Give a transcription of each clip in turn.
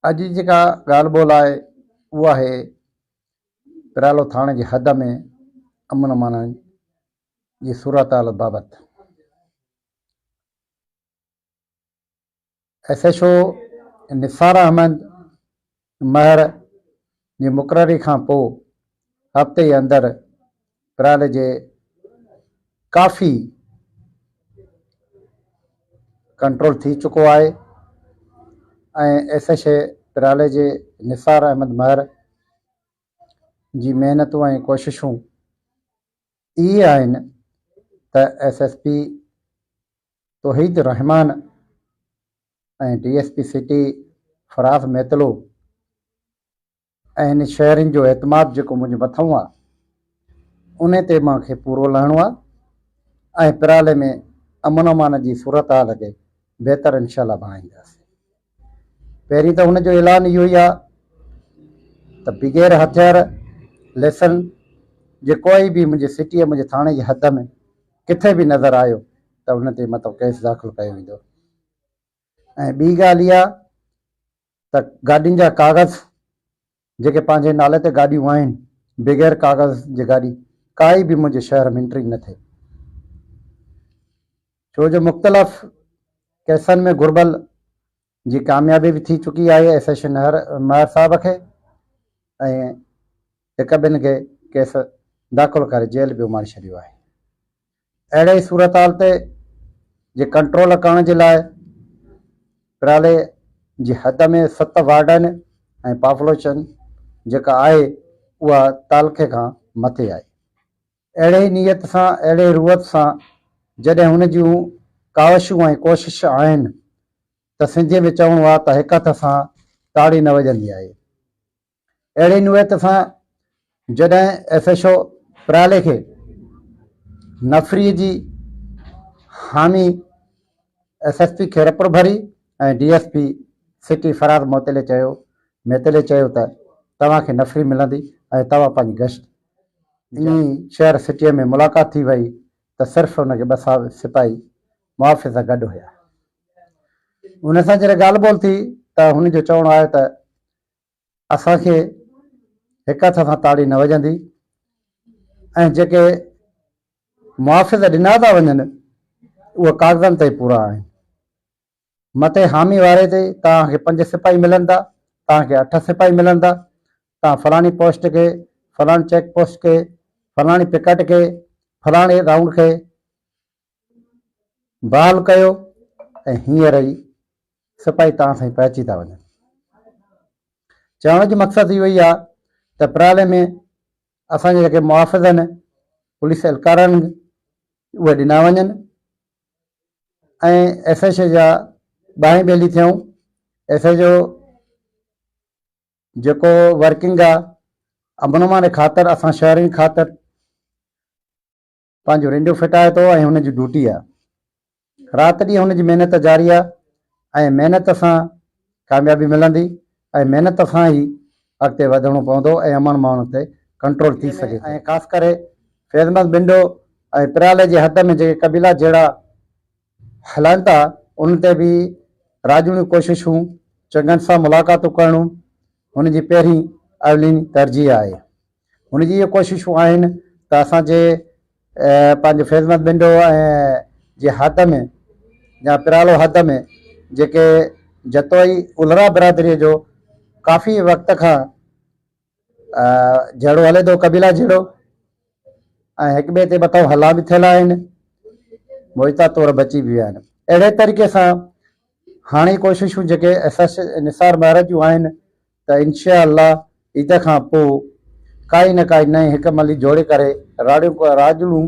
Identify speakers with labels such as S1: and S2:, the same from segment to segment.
S1: اڄ جي جيڪا ڳالهه ٻولهه آهي اهو آهي پرالو ٿاڻي جي حد ۾ امن امان جي صورتحال بابت S H O Nisar Ahmed Mahar جي مقرري کان پوء هفتي اندر پرائل جي ڪافي ڪنٽرول ٿي چڪو آهي ۽ ايس ايڇ اي پرائل جي نثار احمد مهر جي محنتون ۽ ڪوششون اهي آهن ته S S P Tauheed ur-Rehman ۽ D S P city Faraz Mitlo ۽ شهرين جو اعتماد جيڪو منهنجي مٿئون آ ان تي مان کي پورو لهڻو آ ۽ پرالي ۾ امن امان جي صورتحال کي بهتر انشاءالله بڻائينداسين پهرين ته هن جو اعلان اهو ئي آ ته بغير هٿيار ليسن جي ڪوئي به منهنجي سٽي منهنجي ٿاڻي جي حد ۾ ڪٿي به نظر آيو ته ان تي مطلب ڪيس داخل ڪيو ويندو ۽ ٻي ڳالهه اها ته گاڏين جا ڪاغذ جيڪي پنهنجي نالي تي گاڏيون آهن بغير ڪاغذ جي گاڏي ڪائي به منهنجي شهر ۾ انٽري نه ٿئي ڇو جو مختلف ڪيسن ۾ گهربل جي ڪاميابي به ٿي چڪي آهي ايس ايس شنهر مهر صاحب کي ۽ هڪ ٻن کي ڪيس داخل ڪري جيل به اماڻي ڇڏيو آهي اهڙي صورتحال تي جي ڪنٽرول ڪرڻ جي لاء پرالي جي حد ۾ ست وارڊن ۽ پافلوشن جيڪا آهي اها تعلقي کان مٿي آهي. اهڙي نيت سان اهڙي روت سان جڏهن هن جون ڪاوشون ۽ ڪوشش آهن ته سنڌيء ۾ چوڻو آهي ته هڪ هٿ سان تاڙي نه وڄندي آهي. اهڙي نوعيت سان جڏهن ايف ايڇ او پرالي کي نفري جي حامي ايس ايس پي خيرپور ڀري ۽ ڊي ايس پي سٽي فراد موتلي چيو ميتلي چيو ته توهان کي نفري ملندي ۽ توهان پنهنجي گشت جي شهر سٽي ۾ ملاقات ٿي وئي ته صرف ان کي ٻه سپاهي محافظ سان گڏ هيا ان سان جڏهن ڳالهه ٻولهه ٿي ته هن جو چوڻ آيو ته اسان کي هڪ هٿ سان تاڙي نه وڄندي ۽ جيڪي محافظ ڏنا ٿا وڃن اهي ڪاغذن تي پورا آهن. مٿي حامي واري تي توهان کي پنج سپاهي ملندا، توهان کي اٺ سپاهي ملندا، توهان فلاڻي پوسٽ کي، فلاڻي چيڪ پوسٽ کي، فلاڻي پڪٽ کي، فلاڻي رائونڊ کي بال ڪيو ۽ هينئر ئي سپاهي تان سائين پهچي ٿا وڃن. چوڻ جي مقصد اهو ئي آ ته اپرالي ۾ اسان جا جيڪي محافظ آهن پوليس اهلڪارن اهي ڏنا وڃن ۽ ايس ايڇ او جا ٻانهين ٻيلي ٿيون ايس ايڇ او جيڪو ورڪنگ آ امن امان جي خاطر اسان شهرين خاطر پنهنجو رنڊيو ڦٽائي ٿو ۽ هن جي ڊوٽي آ. رات ڏينهن هن جي محنت جاري آ ۽ محنت سان ڪاميابي ملندي ۽ محنت سان ئي اڳتي وڌڻو پوندو ۽ امن ماڻهن تي ڪنٽرول ٿي سگهي ٿو. خاص ڪري فيضمند بنڊو ۽ پرالي جي حد ۾ جيڪي قبيلا جهيڙا هلائن ٿا انهن تي به راڄوڻيون ڪوششون چڱن سان ملاقاتون ڪرڻون هن جي پهرين اولين ترجيح آهي. هن جي اهي ڪوششون آهن ته اسان جي پنهنجي فيضمند بنڊو جي حد ۾ يا پرالو حد ۾ جيڪي جتوئي الرا برادري جو ڪافي وقت کان جهيڙو هلي ٿو قبيلا جهيڙو ۽ هڪ ٻئي تي مٿو هلا به ٿيل آهن موجوده طور بچي به ويا آهن اهڙي طريقي سان هاڻي ڪوششون جيڪي نثار مهراج جون آهن ته انشاء الله عيد کان پوء ڪائي نه ڪائي نئين حڪم علي جوڙي ڪري راڙيون راڄڙون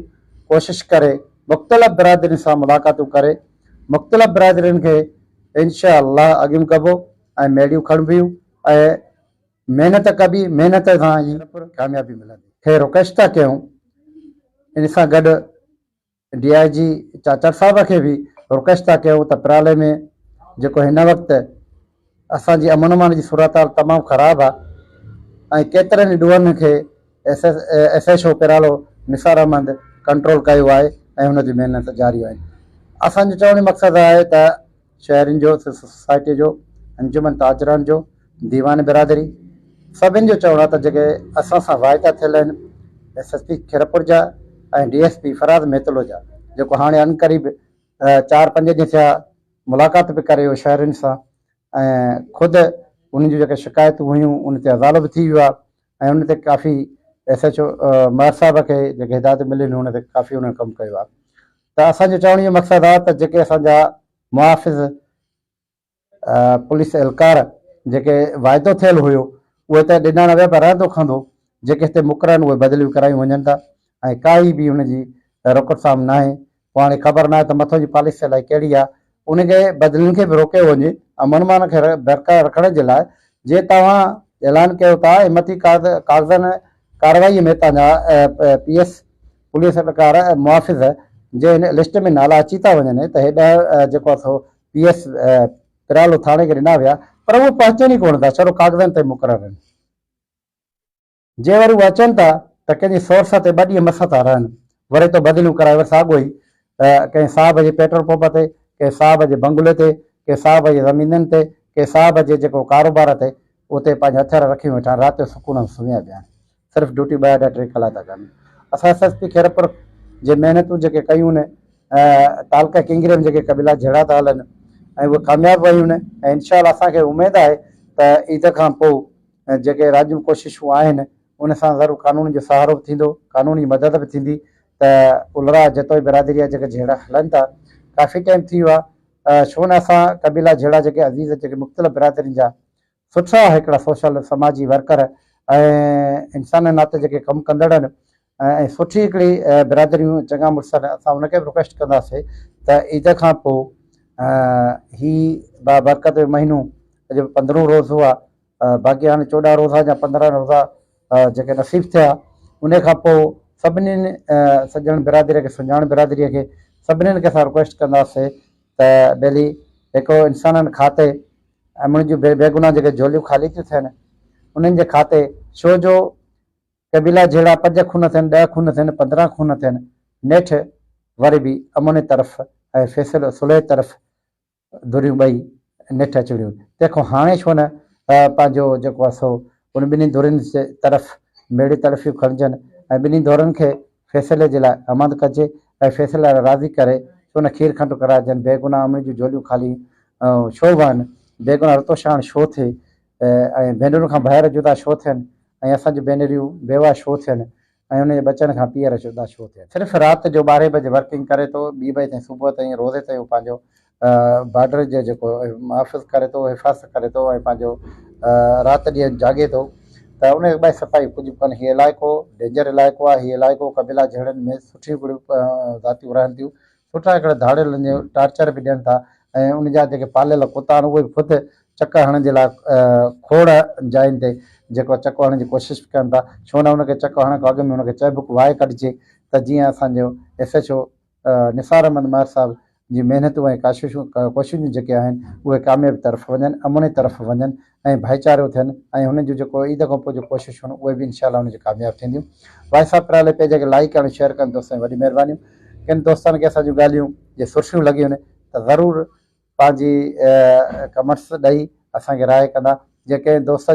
S1: ڪوشش ڪري مختلف برادرين سان ملاقاتون ڪري مختلف برادرين کي انشاء الله اڳيون ڪبو ۽ ميڙيون کڻبيون ۽ محنت ڪبي محنت سان ئي ڪاميابي ملندي خير رڪشتا ڪيون ان سان گڏ ڊي آء جي چاچڙ صاحب کي به رڪويسٽ ٿا ڪيون ته پرالي ۾ جيڪو هن وقت اسان جي امن امان جي صورتحال تمام خراب آ ۽ ڪيترن ئي ڏوهن کي S S S H O پرالو نثار احمد ڪنٽرول ڪيو آهي ۽ هن جون محنت جاريون آهن اسان جو چوڻ جو مقصد آهي ته شهرين جو، سول سوسائٽيء جو، انجمن تاجران جو، ديوان برادري، سڀني جو چوڻ آهي ته جيڪي اسان سان واعدا ٿيل آهن، ايس ايس پي خيرپور جا ۽ D S P Faraz Mitlo جا، جيڪو هاڻي عنقريب چار پنج ڏينهن ٿيا ملاقات به ڪري ويو شهرين سان ۽ خود انهن جون جيڪي شڪايتون هيون ان تي ازالو به ٿي ويو آهي ۽ ان تي ڪافي ايس ايڇ او مهر صاحب کي جيڪي هدايتون مليون هن تي ڪافي انهن ڪم ڪيو آهي ته اسان جو چوڻ اهو مقصد آهي ته جيڪي اسان جا محافظ پوليس اهلڪار جيڪي واعدو ٿيل هيو اهي ته ڏنا نه ويا پر رهندو کندو جيڪي هتي مقرر آهن اهي بدليون ڪرايون وڃن ٿا ۽ ڪائي به ان جي رڪوٽ سام ناهي پوء هاڻي خبر ناهي ته مٿو جي پاليسي الائي ڪهڙي آهي. ان کي بدلين کي به روڪيو وڃي امن امان کي برقرار رکڻ جي لاء جي توهان اعلان ڪيو ٿا ۽ مٿي ڪاغذن ڪارروائي ۾ تهان جا پي ايس پوليس اهلڪار محافظ جي هن لسٽ ۾ نالا اچي ٿا وڃن ته هي ڏهه جيڪو آهي سو پي ايس پرالو ٿاڻي کي ڏنا ويا پر اهي پهچن ئي ڪونه ٿا ڇڙو ڪاغذن تي مقرر آهن. جي وري هو اچن ٿا ته ڪنهن جي سورس تي ٻه ڏينهن مس ٿا رهن، وري تو بدليون ڪرائي وري ساڳيو ئي ڪنهن صاحب جي پيٽرول پمپ تي، ڪنهن صاحب جي بنگلي تي، ڪنهن صاحب جي زمينن تي، ڪنهن صاحب جي جيڪو ڪاروبار تي اتي پنهنجا هٿيار رکي ويٺا آهن، رات جو سڪون سان سمهيا پيا آهن، صرف ڊيوٽي ٻه اڍا ٽي ڪلاڪ ٿا ڪن. اسان ايس ايس پي خيرپور جي محنتون جيڪي ڪيون آهن، تعلقه ڪينگري ۾ جيڪي قبيلا جهيڙا ٿا هلن ۽ اهي ڪامياب ويون آهن ۽ انشاء الله اسان کي اميد آهي ته عيد کان پوء ۽ جيڪي راڄيون ڪوششون آهن ان سان ضرور قانون جو سهارو به ٿيندو قانون جي مدد به ٿيندي ته الرا جتوئي برادري جا جيڪي جهيڙا هلن ٿا ڪافي ٽائيم ٿي ويو آهي ڇو نه اسان قبيلا جهيڙا جيڪي عزيز جيڪي مختلف برادرين جا سٺا هڪڙا سوشل سماجي ورڪر ۽ انسان ناتي جيڪي ڪم ڪندڙ آهن ۽ سٺي هڪڙي برادريون چڱا مڙس آهن اسان ان کي به رڪويسٽ ڪنداسي ته عيد کان پو هي با برڪت مهينو اڄ پندرهون روز هو باقي هاڻي چوڏهن روزا يا پندرهن روزا جيڪي نصيب ٿيا ان کان پو سڀني سڄڻ برادري کي سڃاڻ برادري کي سڀني کي اسان رڪويسٽ ڪنداسي ته ڀلي هڪڙو انسانن کاتي امڙ جون بي بيگنا جيڪي جوليون خالي ٿيون ٿين انهن جي کاتي شو جو قبيلا جهيڙا پنج خون ٿين، ڏهه خون ٿين، پندرهن خون ٿين، نيٺ وري به امن طرف ۽ فيصل صلح طرف ڌريون ٻئي نيٺ اچي وڙهيون. تنهن کان هاڻي ڇو نه پنهنجو جيڪو آهي سو ان ٻنهي ڌرين جي طرف ميڙي تلفيون کڻجن ۽ ٻنهي ڌرين کي فيصلي جي لاء اماند ڪجي ۽ فيصلي لاء راضي ڪري ڇو نه کير کنڊ ڪرائجن، بيگناهه امڙين جون جهوليون خالي ڇو وهن، بيگناهه رتوشاڻ ڇو ٿئي، ۽ ڀينرن کان ڀائر جدا ڇو ٿين؟ ۽ اسان جون ڀينريون بيواهه ڇو ٿين؟ ۽ انهن جي ٻچن کان پيئر جدا ڇو ٿين؟ صرف رات جو ٻارهين بجي ورڪنگ ڪري ٿو، ٻي بجي تائين صبح تائين روزي تائين هو پنهنجو بارڊر جو جيڪو محافظ ڪري ٿو، حفاظت ڪري ٿو ۽ پنهنجو رات ڏينهن جاڳي ٿو ته ان ٻئي صفائي ڪجهه به ڪانهي. هي علائقو ڊينجر علائقو آهي، هي علائقو قبيلا جهيڙن ۾ سٺيون ڳڙهيون ذاتيون رهن ٿيون، سٺا هڪڙا ڌاڙيل هن جو ٽارچر به ڏين ٿا ۽ ان جا جيڪي پاليل ڪتا آهن اهي به خود چڪ هڻڻ جي لاء کوڙ جاين تي جيڪو چڪ هڻڻ جي ڪوشش به ڪن ٿا ڇو نه ان کي چڪ هڻڻ کان اڳ ۾ ان کي چهبڪ وهائي ڪڍجي ته جيئن اسان جو S H O Nisar Ahmed Mahar صاحب جي محنتون ۽ ڪاششون ڪوششون جيڪي آهن اهي ڪاميابي طرف وڃن امن جي طرف وڃن ۽ ڀائيچارو ٿين ۽ هنن جون جيڪو عيد کان پوء جون ڪوششون هن اهي به انشاء الله هن جون ڪامياب ٿينديون وائس آف پرالي پيج کي لائيڪ ڪرڻ شيئر ڪرڻ دوستن وڏي مهربانيون ڪن دوستن کي اسان جون ڳالهيون جي سرسيون لڳيون ته ضرور پنهنجي ڪمنٽس ڏئي اسان کي راء ڪندا جي ڪنهن دوست